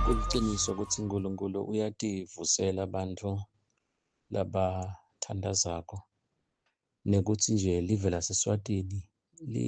Kuliqiniso ukuthi uNkulunkulu uyativusela abantu labathandazako nekuthi nje live laseSwatini li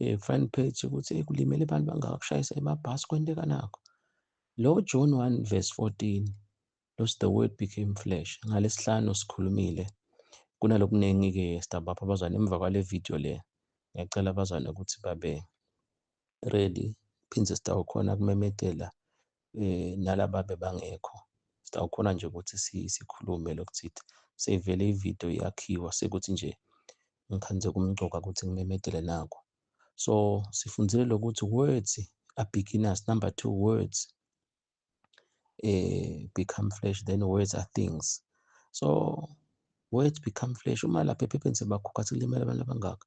eh, front page ukuthi eh, kulimele abantu bangaka kushayisa emabhasi kwenteka nakho lo John 1 verse 14 los the word became flesh ngalesihlanu sikhulumile kunalokuningi ke stabapha abazwana emva kwale video le ngiyacela abazwana ukuthi babe ready phinde sitawukhona kumemedela eh, nalaba bebangekho sitawukhona nje ukuthi sikhulume lokuthi sevele ividiyo yakhiwa sekuthi nje ngikhanze kumgcoka ukuthi ngimemedele nako so sifundile lokuthi words are beginners number two words eh become flesh then words are things so words become flesh uma lapha ephepheni sebakhokha sekulimele abantu abangaka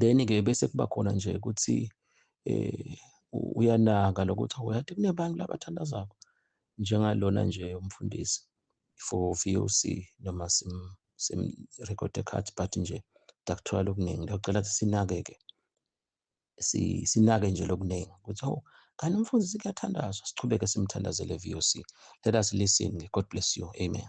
then ke bese kuba khona nje ukuthi eh uyanaka lokuthi awuyati kunebantu labathandazako njengalona nje umfundisi for VOC noma sim sim record card but nje dakuthola okuningi ngiyacela ukuthi sinake ke si sinake nje lokuningi ukuthi oh kanti umfundisi kuyathandazwa siqhubeke simthandazele VOC let us listen God bless you amen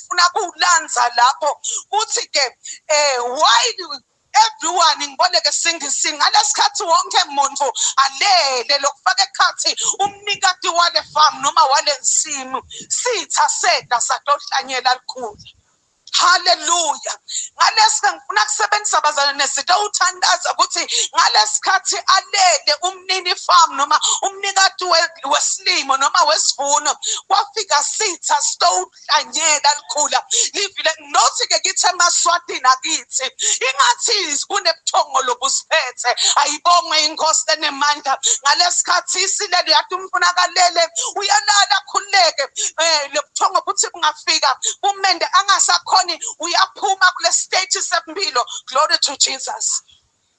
engifuna kuwulanza lapho kuthi ke eh why everyone ngiboleke singisi ngalesikhathi wonke muntu alele lokufaka ekhathi umnikati wale farm noma wale nsimu sitha seda sadohlanyela likhulu haleluya ngalesi ngifuna kusebenzisa abazalwane nesitha uthandaza ukuthi ngalesikhathi alele umnini farm noma umnikati wesilimo noma wesivuno kwafika sitha stone lihlanyela likhula livile nothi-ke kithi emaswatini akithi ingathi kunebuthongo lobusiphethe ayibongwe inkosi enemandla ngalesi khathi isilele yathi umfuna akalele uyalala akhululeke um eh, lobuthongo buthi bungafika kumende angasakhoni uyaphuma kule stage sempilo glory to jesus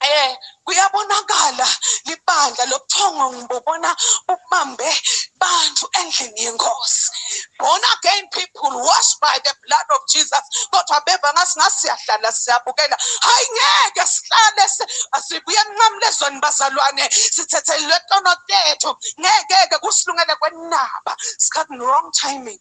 Eh kuyabonakala libandla lobuthongo ngibobona bubambe bantu endlini yenkosi born again people washed by the blood of jesus kodwa beva ngathi ngasiyahlala siyabukela hayi ngeke sihlale asibuye enqamule ezweni bazalwane sithethelwe tono tethu ngeke-ke kusilungele kwenaba sikhathi wrong timing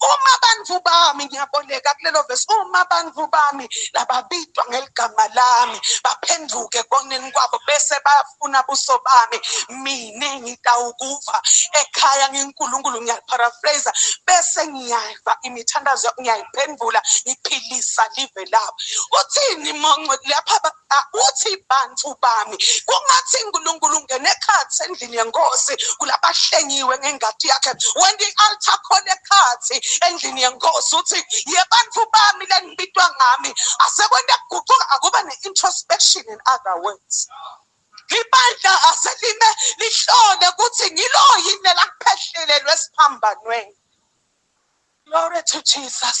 uma bantu bami ngiyaboleka kulelo vesi uma bantu bami lababitwa ngeligama lami baphenduke koneni kwabo bese bayafuna buso bami mina ngitawukuva ekhaya nginkulunkulu ngiyaparaphrase bese ngiyayiva imithandazo ngiyayiphendula ngiphilisa live labo uthini monco lapha uthi bantu bami kungathi uNkulunkulu ungena ekhathi endlini yenkosi kulabahlengiwe ngengadi yakhe when the altar call ekhathi endlini yenkosi uthi yebantu bami lenibitwa ngami asekwenda kuguquka akuba ne-introspection in other words ibandla aselime lihlole ukuthi ngilo yini lelakuphehlelelwe esiphambanweni glory to jesus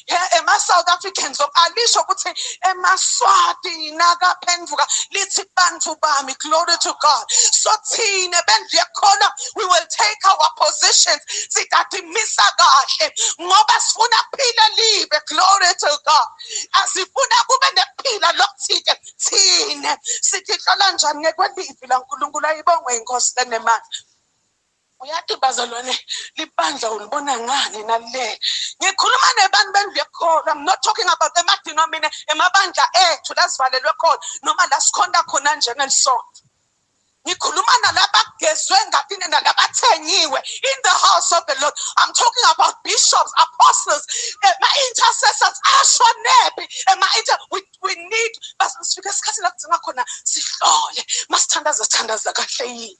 ema-south africans alisho ukuthi emaswati nakaphenduka lithi bantu bami glory to god so thina bendlu yekhona we will take our positions sidadimisa kahle ngoba sifuna phila libe glory to god asifuna kube nephila lokuthike thina sithi hlola njani ngekwelivi lankulunkulu ayibongwe inkosi lenemandla uyathi bazalwane libandla ulibona ngani nale ngikhuluma nebantu bendlu yekhona i'm not talking about emadinamine emabandla ethu lasivalelwe khona noma la sikhonta khona njengelisonto ngikhuluma nalabagezwe ngathini nalabathengiwe in the house of the lord i'm talking about bishops apostles ema-intercessors asho nephi ema-inter we, we need basifike esikhathini la kudzinga khona sihlole masithandaza sithandaza kahle yini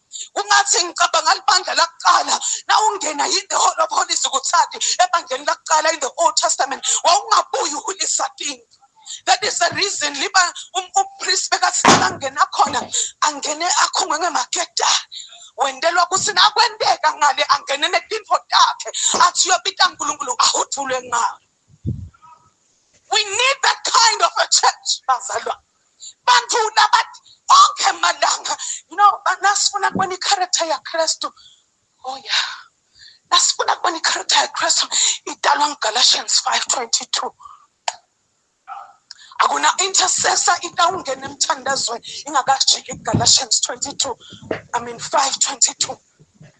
ungathi ngicabanga libandla lakuqala na ungena in the hall of holies kuthandi ebandleni lakuqala in the old testament wawungabuyi ulisadingi that is the reason liba um, umpriest bekathi angena khona angene akhungwe ngemageda wendelwa ukuthi nakwenteka ngale angene netinfo takhe athi uyobita nkulunkulu ahudulwe ngalo we need that kind of a church bazalwa bantu nabathi onke malanga you know nasifuna kubona i-character yakristu oh yeah nasifuna kubona i-character yakristu idalwa ngugalatians 5 22 akuna intercessor into awungena emthandazweni ingakajiki kugalatians 22 i mean 5 22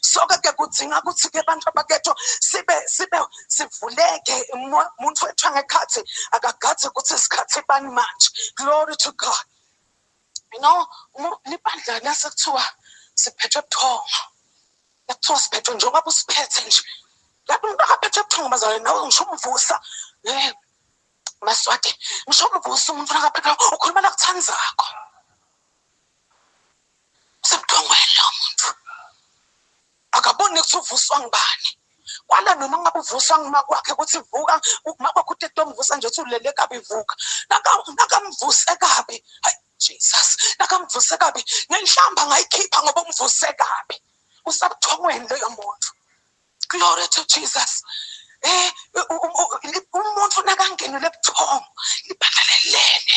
soke ke kudzinga kutsi ke bantfu baketho sibe sibe sivuleke muntfu wethu angekhatsi akagadzi kutsi sikhatsi bani manje glory to god you know libandla lasekuthiwa siphethwe buthongo lakuthiwa siphethwe njengoba busiphethe nje lapho umuntu akaphethwe buthongo bazalwane nawe ngisho umvusa um maswati ngisho umvusa umuntu akaphethwe ukhuluma lakuthandzakho sebudongwele lowo muntu akaboni ukuthi uvuswa ngubani kwala noma ngabe uvuswa nguma kwakhe ukuthi vuka uma kwakho utete omvusa nje uthi ulele kabi vuka nakamvuse kabi hayi jesus nakamvuse kabi nenhlamba ngayikhipha ngoba umvuse kabi usabuthongweni loyo muntu glory to jesus eh umuntu nakangenile ebuthongo libhatalelene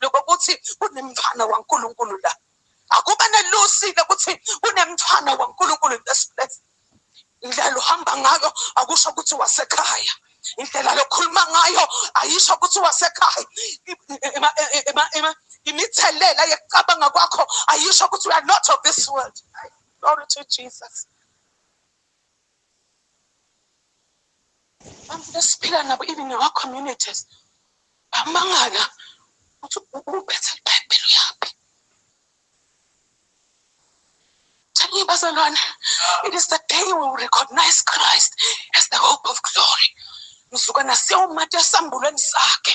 lokho ukuthi kunemthwana waNkulunkulu la akuba nelusile ukuthi kunemthwana waNkulunkulu lesibulesi indlela uhamba ngayo akusho ukuthi wasekhaya indlela lokhuluma ngayo ayisho ukuthi wasekhaya imithelela yekucabanga kwakho ayisho ukuthi we are not of this world glory to jesus abantu esiphila nabo even in our communities bamangala ukuthi uphethe ibhayibheli uyaphi Tell bazalwane it is the day we will recognize christ as the hope of glory mzukwana siyawumatasa embulweni sakhe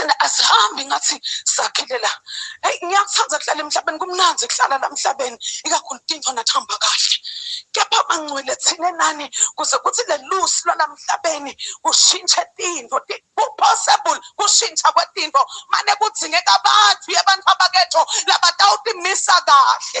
thina asihambi ngathi sakhele la eyi ngiyakuthanda kuhlala emhlabeni kumnandi kuhlala la mhlabeni ikakhulu into nathamba kahle kepha bangcwele thina nani kuze kuthi lelusi lwalamhlabeni kushintshe tinto kupossible kushintsha kwetinto mane kudzingeka abantu yebantu abaketho labatawutimisa kahle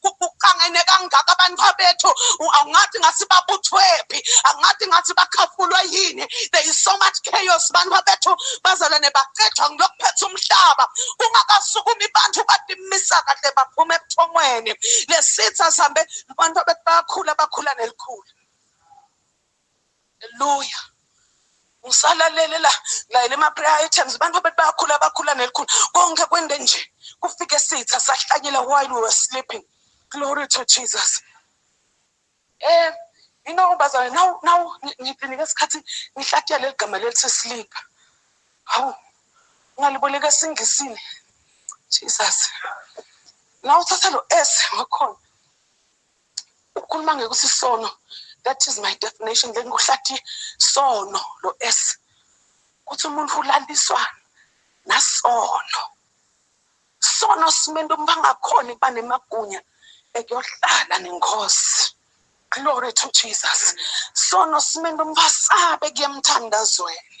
kuqangene kangaka abantu bethu angathi ngathi babuthwephi angathi ngathi bakhafulwe yini there is so much chaos abantu bethu bazalwane bacethwa ngilokuphetha umhlaba kungakasukumi bantu badimisa kahle baphuma ebuthongweni lesitha sihambe abantu bethu bayakhula bakhula nelikhulu Hallelujah. ngisalalela layela ama-prayer items abantu abethi bayakhula bakhula nelikhulu konke kwende nje kufike sitha sahlanyela while we were sleeping glory to jesus eh you know bazalwane now now ngilinike isikhathi ngihlatyela leli gama lelithi sleep hawu ngaliboleka esingisini jesus na uthatha lo s wakhona ukukhuluma ngekuthi sono that is my definition then kuhlathi sono lo s kuthi umuntu ulaliswa nasono sono simento umuntu angakhona ukuba nemagunya ekuyohlala nenkosi glory to jesus sono simento umuntu asabe kuyemthandazweni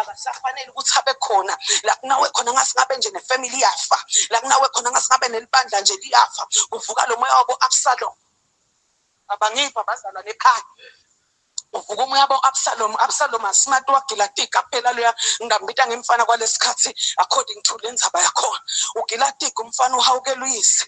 abasafanele ukuthi abe khona la kunawe khona ngasingabe nje nefamily yafa la kunawe khona ngasingabe nelibandla nje liyafa kuvuka lo moya wabo absalom abangipha bazalwa nekhaya uvuka umoya bo absalom absalom asimati wagilati kaphela loya ngambita ngemfana kwalesikhathi according to lenzaba yakhona ugilatika umfana uhawukela uyise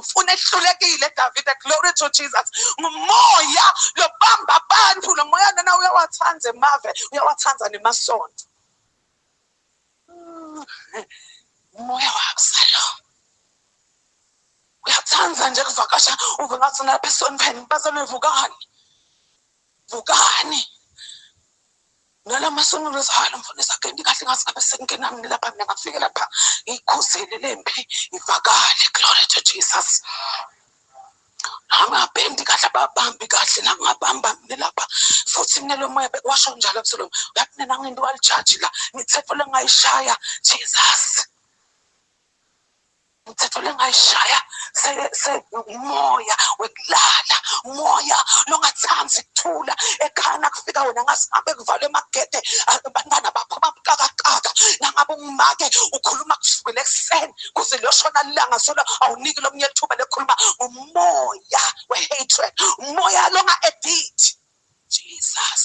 ufuna ehlulekile davide glory to jesus ngumoya lobamba abantu lo moya nana uyawathanda emave uyawathanda nemasonto umoya wakusalo uyathanda nje kuvakasha uve ngathi nalapha esonweni bazalwe vukani vukani ngala masono lezihalo mfundisi agenda kahle ngazi ngabe sekungena mina lapha mina ngafike lapha ngikhuzele lempi ivakale glory to jesus angabendi kahle ababambi kahle nangabamba mina lapha futhi mina lo moya bekwasho njalo kuselom yathi mina ngento walijaji la ngithetho lengayishaya jesus umthetho lengayishaya umoya wekulala umoya longathandi ukuthula ekhana kufika wena ngasihambe kuvalwe emagede abantwana bakho babukakakaka nangabe ungumake ukhuluma kusukela ekuseni kuze liyoshona lilanga solo awuniki lomunye ithuba lekhuluma umoya we-hatred umoya longa-edit jesus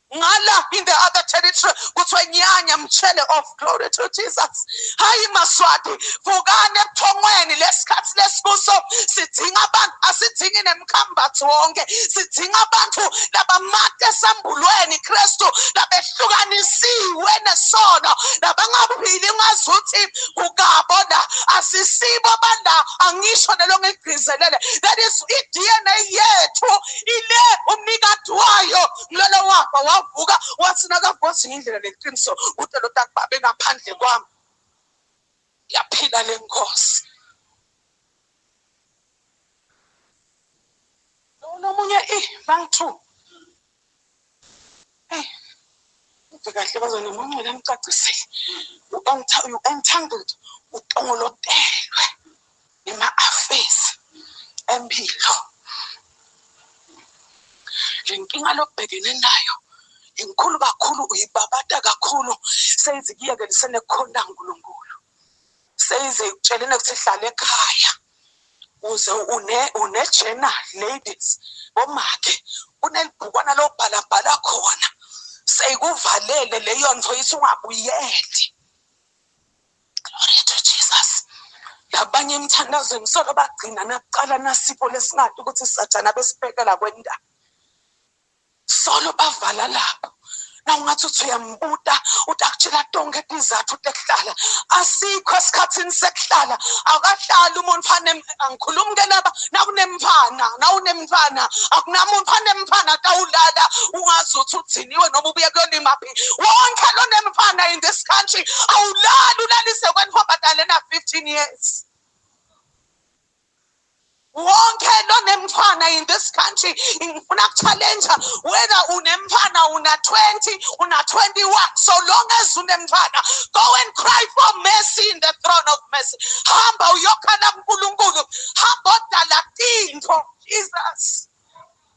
ngala in the other territory kuthiwa nyanya mtshele of glory to jesus hayi maswati vukani ebuthongweni lesikhathi lesikuso sidinga abantu asidingi nemkhambathi wonke sidinga abantu labamate esambulweni kristu labehlukanisiwe nesono labangaphili ngazi ukuthi kukabo la asisibo bala angisho nelo ngigqizelele that is i-dna yethu ile umnikati wayo kulala wafa wavuka wathi nakavuzi ngindlela leqiniso kude lo takubabe ngaphandle kwami yaphila le nkosi nomunye i bank two hey kahle bazona munye lamcacisile u-entangled utongolotelwe ngema-affairs empilo le nkinga lobhekene nayo inkulu kakhulu uyibabata kakhulu seyize kuyekelisene khona nkulunkulu seyize ikutshelene ukuthi hlale ekhaya uze une une-journal ladies bomakhe kunelibhukwana lobhalabhala khona seyikuvalele leyo nto ithi ungabuyeli Glory to Jesus. Labanye emthandazweni solo bagcina nakuqala nasipho lesingathi ukuthi sathana besibhekela kwenda. Solo bavala lapho. na ungathi uthi uyambuta uthi akutshela tonke izizathu ukuthi ekuhlala asikho esikhathini sekuhlala akahlali umuntu fane angikhulumi ke laba nakunemfana nawunemfana akunamuntu fane mfana tawulala ungazi ukuthi uthiniwe noma ubuye kuyona imaphi wonke lonemfana in this country awulali ulalise kwenfombadalena 15 years wonke lonemfana in this country ngifuna kuchallenge whether unemfana una 20 una 21 so long as unemfana go and cry for mercy in the throne of mercy hamba uyokhala kuNkulunkulu hamba odala tinto jesus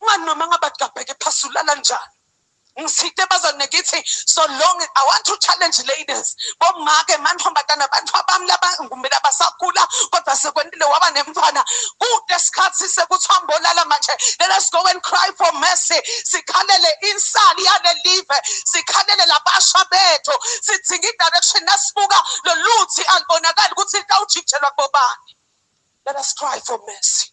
Mani noma ngabathi kabheke phasi ulala njani. Ngisithe bazane ngithi so long I want to challenge ladies. Bomake mantombazana abantu abami laba ngumela basagula kodwa sekwendile waba nemntwana. Kude isikhathi sekuthiwa mbolala manje. Let us go and cry for mercy. Sikhalele insali yale live. Sikhalele labasha bethu. Sidinga i-direction nasibuka loluthi alibonakali ukuthi litawujitshelwa kubobani. Let us cry for mercy.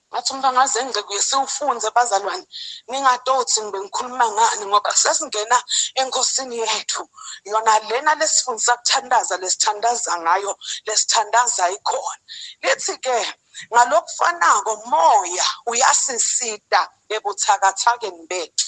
Ngathi umntwana waze ngixekuye siwufunze bazalwane ningadothi ngibe ngikhuluma ngani ngoba sesingena enkosini yethu yona lena lesifundisa kuthandaza lesithandaza ngayo lesithandaza ikhona lithi ke ngalokufanako moya uyasisita ebuthakathakeni bethu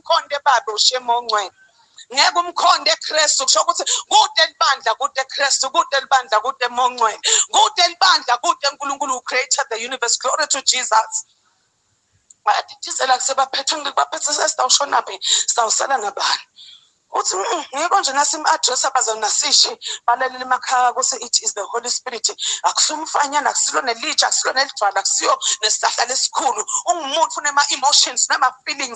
umkhonde babe ushema ongcwele ngeke umkhonde eKristu kusho ukuthi kude libandla kude eKristu kude libandla kude emongcwele kude libandla kude uNkulunkulu who created the universe glory to Jesus bayadidizela kusebaphethe ngibaphethe sesitawushona phi sitawusala nabani uthi mm, ngikho nje nasim-address abazonasishi balalela emakhaya kuthi it is the holy spirit akusumfanyana akusilo nelitsha akusilo nelijwala akusiyo nesihlahla lesikhulu ungumuntu unema-emotions nama-feelings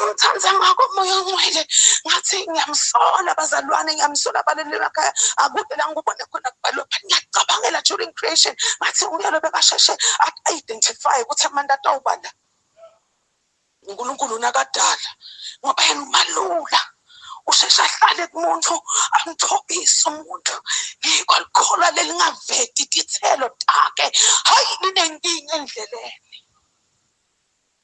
ngimthanda ngakho moya ongcwele ngathi ngiyamsola abazalwane ngiyamsola abaleli emakhaya akude la ngikubone khona kubhalwe phani ngiyacabangela during creation ngathi uyalo bekasheshe a-identify ukuthi amanda atawubala unkulunkulu nakadala ngoba yena umalula usheshe ahlale kumuntu amthobise umuntu yiko likholwa lelingaveti tithelo take hayi linenkinga endleleni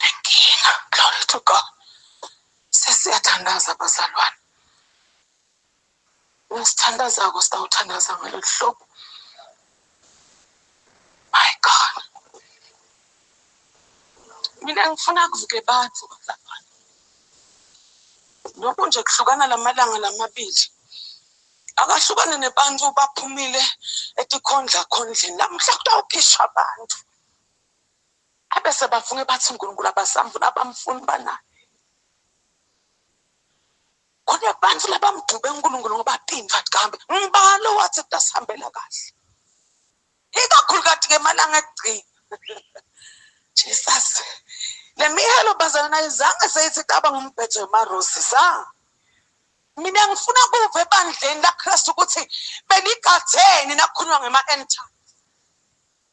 nenkinga glory to god sesiyathandaza bazalwane nesithandazako sitawuthandaza ngalolu hlobo my god mina ngifuna kuvuke abantu bazalwane lokhu nje kuhlukana lamalanga lamabili akahlukane nebantu baphumile etikhondla khondleni namuhla kutawukhishwa abantu abese bafunge bathi uNkulunkulu abasamfuni abamfuni banayo khona abantu labamdube uNkulunkulu ngoba tinfa kambe ngibalo wathi tasihambela kahle ikakhulu kathi ke malanga egcina Jesus lemihelo bazana ayizange seyithi caba ngombhedo wemarosi sa mina ngifuna kuve ebandleni laKristu ukuthi benigatheni nakhuluma ngema-end time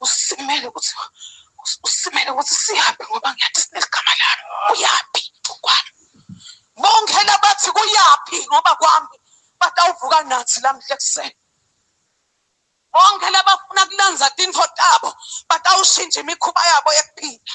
usimele ukuthi usimele ukuthi siyaphi ngoba ngiyathi sineligama lami uyaphi kwami bonke labathi kuyaphi ngoba kwami batawuvuka nathi lamhla ekuseni bonke labafuna kulanza tintfo tabo batawushintsha imikhuba yabo yekuphila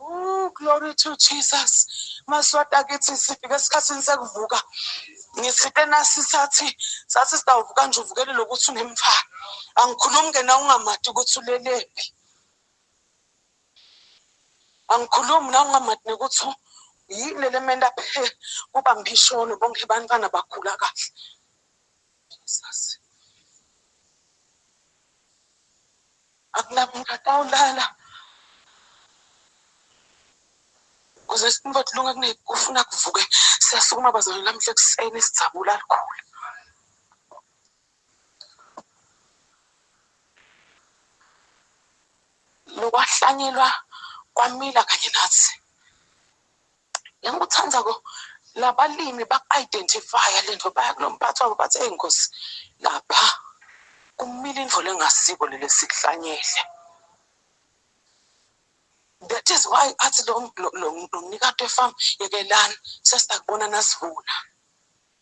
Ooh, glory to Jesus. Maswati akithi sifike esikhathini sekuvuka. Ngisite nasi sathi sathi sitawuvuka nje uvukele lokuthi unemfana. Angikhulumi ke na ungamati ukuthi ulelephi. Angikhulumi na ungamati nokuthi yini lelementa phe kuba mbisholo bonke bantwana bakhula kahle. Jesus. Akunamuntu atawulala. Kuze sifunga kulunga kunekufuna kuvuke siyasukuma bazalwane namhla ekuseni sijabula likhulu. lokwahlanyelwa kwamila kanye nathi Engikuthanda ko labalimi ba-identifya le nto baya kulo mphathi wabo bathi eyi nkosi lapha kumile indlela engasiko leli sikuhlanyele that is why athi lo mnikati wefamu yekelani sesakubona nasivuna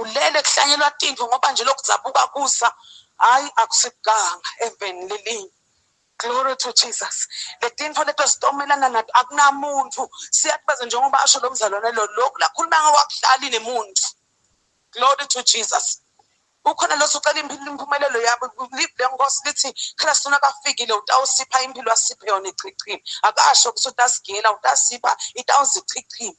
ulele kuhlanyelwa tinto ngoba nje lokhu zabuka kusa hayi akusikuganga eveni lelinye glory to jesus letinto leto sitomelana nato akunamuntu siyakubaza njengoba asho lo mzalwane lo lokhu lakhuluma ngokwakuhlali nemuntu glory to jesus ukhona losocela impumelelo yabo live le nkosi lithi khela sona kafikile utawusipha impilo asiphe yona ichichini akasho ukuthi utasigela utasipha itawuzichichini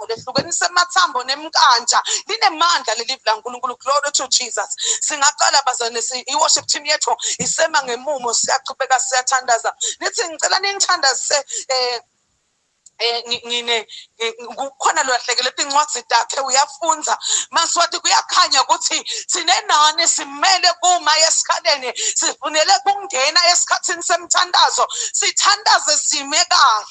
ivuko lehlukenise amathambo nemkantsha linemandla leli vila nkulunkulu glory to jesus singaqala bazane i-worship team yethu isema ngemumo siyaqhubeka siyathandaza nithi ngicela ningithandazise um Eh, ngine kukhona lolahlekele incwadi takhe uyafunza maswathi kuyakhanya ukuthi sinenani simele kuma esikhaleni sifunele kungena esikhathini semthandazo sithandaze sime kahle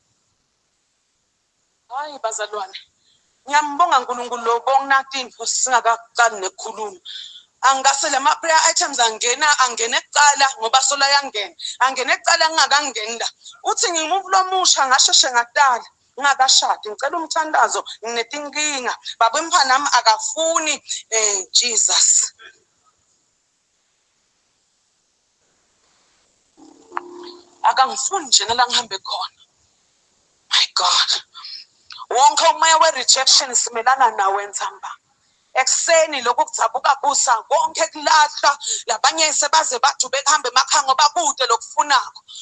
Hayi bazalwane, ngiyambonga uNkulunkulu lo bonginakindvu singakaqali nekukhuluma angase lama prayer items angena angene kuqala ngoba sola yangena angene kuqala ngingakangeni la uthi ngimuvu lomusha ngasheshe ngatala ngingakashadi ngicela umthandazo nginetinkinga baba emphanami akafuni um jesus akangifuni njena la ngihambe khona my god wonke umoya we-rejection simelana nawe nzamba ekuseni lokhu kudzabuka kusa konke kulahla labanye sebaze bathi ubekuhamba emakhanga bakude lokufunako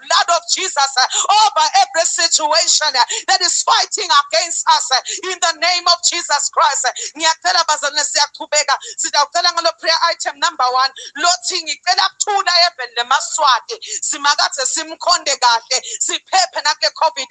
blood of Jesus over every situation that is fighting against us in the name of Jesus Christ. Ngiyacela bazalwane siyaqhubeka sidawucela ngalo prayer item number 1 lothi ngicela kuthula even lemaswati simakathe simkhonde kahle siphephe nakule covid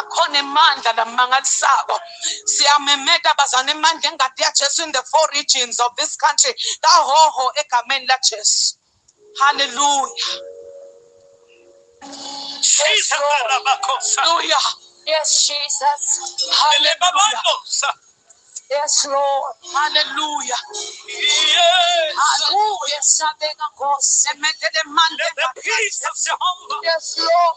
akhona emandla namangalisako siyamemeta bazana emandla engadi yajesu in the four regions of this country kahoho egameni lajesu halleluya haleluya yes jesus haleluya Yes, Lord. Hallelujah. Hallelujah. Yes, Lord.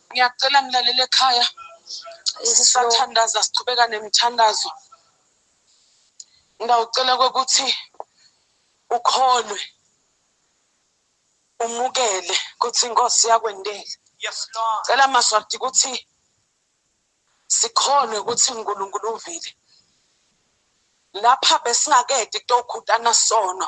ngiyacela ngilalele ekhaya sisathandaza siqhubeka nemithandazo ngawucela kokuthi ukholwe umukele ukuthi inkosi yakwendela yes lord cela maswati ukuthi sikhonwe ukuthi uNkulunkulu uvile lapha besingakedi kutokhutana sono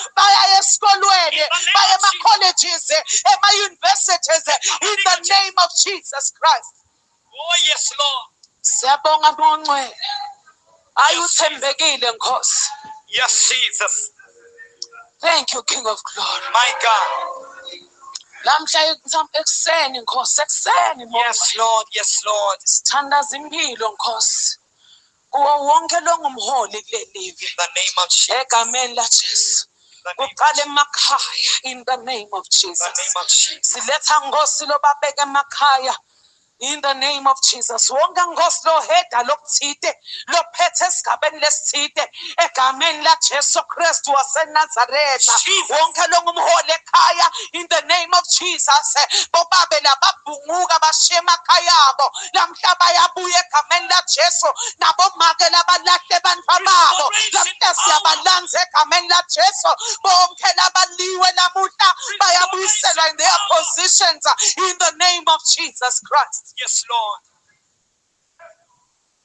bayaya esikolweni baye ema-colleges ema-universities in the name of jesus christ oh yes lord siyabonga mongcwele ayi uthembekile nkosi yes jesus thank you king of glory my god namhla ekuseni nkosi ekuseni yes lord yes lord sithandaza impilo nkosi kuwo wonke longumholi kulelivi egameni lajesu kuqala emakhaya in the name of jesus siletha ngosi lobabeka emakhaya in the name of Jesus wonke nkosi loheda lokuthide lophethe esigabeni lesithide egameni laJesu Kristu waseNazaretha wonke longumholi ekhaya in the name of Jesus bobabe lababhunguka bashiye emakhaya abo namhla bayabuya egameni lajesu nabomake labalahle bantwa babo namhla siyabalanza egameni lajesu bonke labaliwe namuhla bayabuyiselwa in their positions in the name of jesus christ yes lord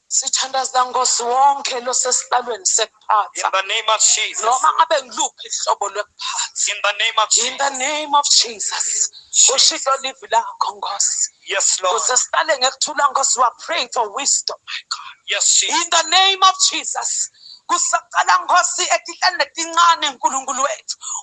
sithandazela nkosi wonke losesihlalweni lokuphatha in the name of Jesus noma ngabe ngiluphi ihlobo lokuphatha in the name of Jesus in the name of Jesus ushilo livi lakho nkosi yes lord kuze sihlale ngekuthula nkosi we are praying for wisdom my god yes Jesus. in the name of Jesus kusaqala nkosi etihlane letincane nkulunkulu wethu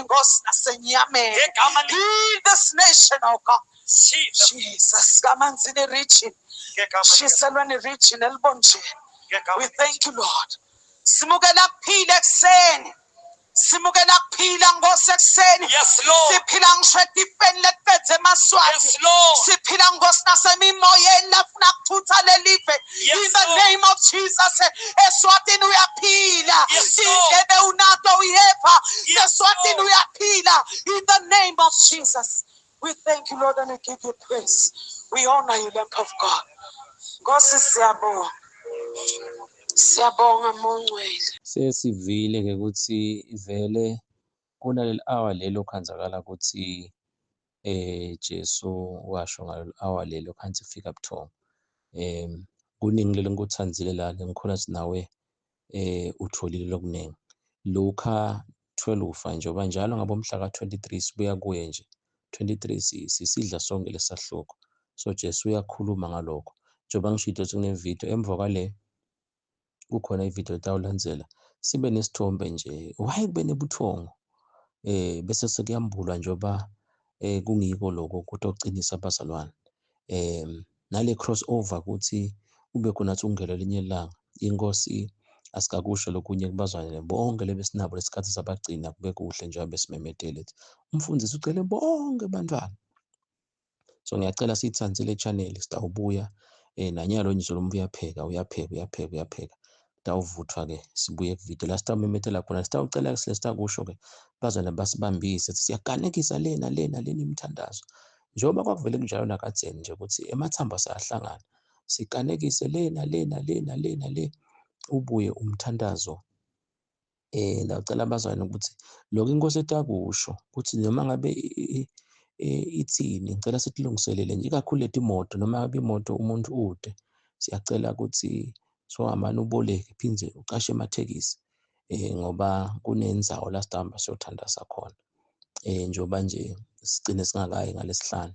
inkosi nasenyameni Ngegama le- heal this nation oh god Jesus. jesus kamanzini region Ngegama lika- shiselweni region elibonjeni ngegama we lika- thank you lord simukela kuphila ekuseni simukela kuphila nkosi ekuseni Yes, Lord. siphila ngisho etifeni letipedze emaswati Yes, Lord. siphila nkosi nasemimoyeni lafuna kuthutha lelive Yes, in the Lord. name of Jesus eswatini uyaphila Yes, Lord. indlebe unato uyeva Yes, eswatini Lord. uyaphila in the name of Jesus we thank you Lord and we give you praise we honor you Lamb of God Nkosi siyabonga siyabonga mongcwele Sesivile-ke ukuthi vele Kunaleli hour leli okhonzakala ukuthi eh Jesu washo ngaleli hour leli okhansi fika buthongo. Eh kuningi leli ngikuthandile la ngikhona sinawe eh utholile lokuningi. Luka 12 ufa njengoba njalo ngabomhla ka-23 sibuya kuye nje 23 sisidla sonke lesahluko so Jesu uyakhuluma ngalokho njengoba ngisho idoti kunevideo emva kwale kukhona ivideo etawulandzela sibe nesithombe nje why kube nebuthongo eh bese sekuyambulwa njengoba eh kungiko lokho kutocinisa abazalwane eh nale crossover ukuthi kube khona ukuthi ungele elinye ilanga inkosi asikakusho lokunye kubazalwane bonke lebesinabo lesikhathi sabagcina kube kuhle njengoba besimemedele umfundisi ucele bonke abantwana so ngiyacela siyithande le channel sitawubuya eh nanyalo nje solo muntu uyapheka uyapheka uyapheka uyapheka tawuvuthwa ke sibuye kuvideo la sitawumemethela khona sitawucela ke sile sitakusho ke bazana basibambise siyaganekisa lena lena lena imithandazo njengoba kwakuvele kunjalo nakadzeni nje ukuthi emathambo sayahlangana siganekise lena lena lena lena le ubuye umthandazo eh ndacela abazalwane ukuthi lokho inkosi etakusho ukuthi noma ngabe ithini ngicela sikulungiselele nje ikakhulu leti moto noma ngabe imoto umuntu ude siyacela ukuthi sohamani uboleke phinde ucashe emathekisi eh ngoba kunenzawo la sihamba siyothandaza khona eh njengoba nje sigcine singakayi ngalesihlanu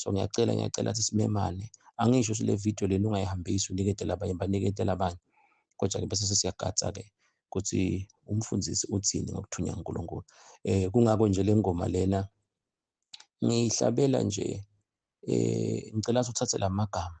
so ngiyacela ngiyacela ukuthi simemane angisho ukuthi le video lena ungayihambisi uniketele abanye baniketele abanye kodwa-ke bese sesiyagatsa-ke ukuthi umfundisi uthini ngokuthunywa unkulunkulu um kungako nje le ngoma lena ngiyihlabela nje um ngicela ukuthi uthathe la magama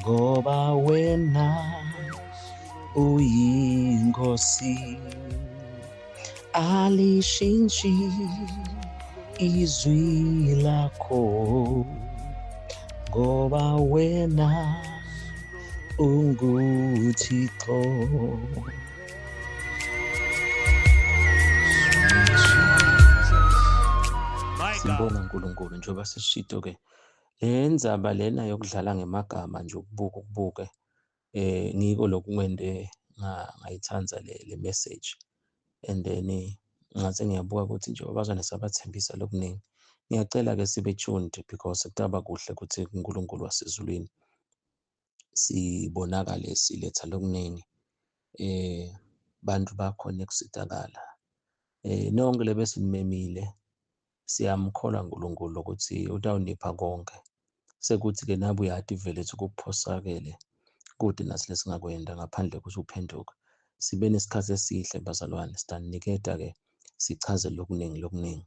ngoba wena uyinkosi alishintshi izwi lakho ngoba wena unguthixo sibonga unkulunkulu njengoba sishito-ke Le ndzaba lena yokudlala ngemagama nje ukubuka ukubuke eh ngiko lokunwente ngayithanda le le message and then ngathi ngiyabuka ukuthi nje abazwane sabathembisa lokuningi ngiyacela ke sibe tuned because kutaba kuhle ukuthi uNkulunkulu wasezulwini sibonakale siletha lokuningi eh bantu bakhona kusizakala eh nonke lebesinimemile siyamkholwa uNkulunkulu ukuthi utawunipha konke sekuthi ke nabu yati vele ukuphosakele kude nasilesingakwenda ngaphandle ukuthi uphenduke sibe nesikhathi esihle bazalwane sitaniketa ke sichaze lokuningi lokuningi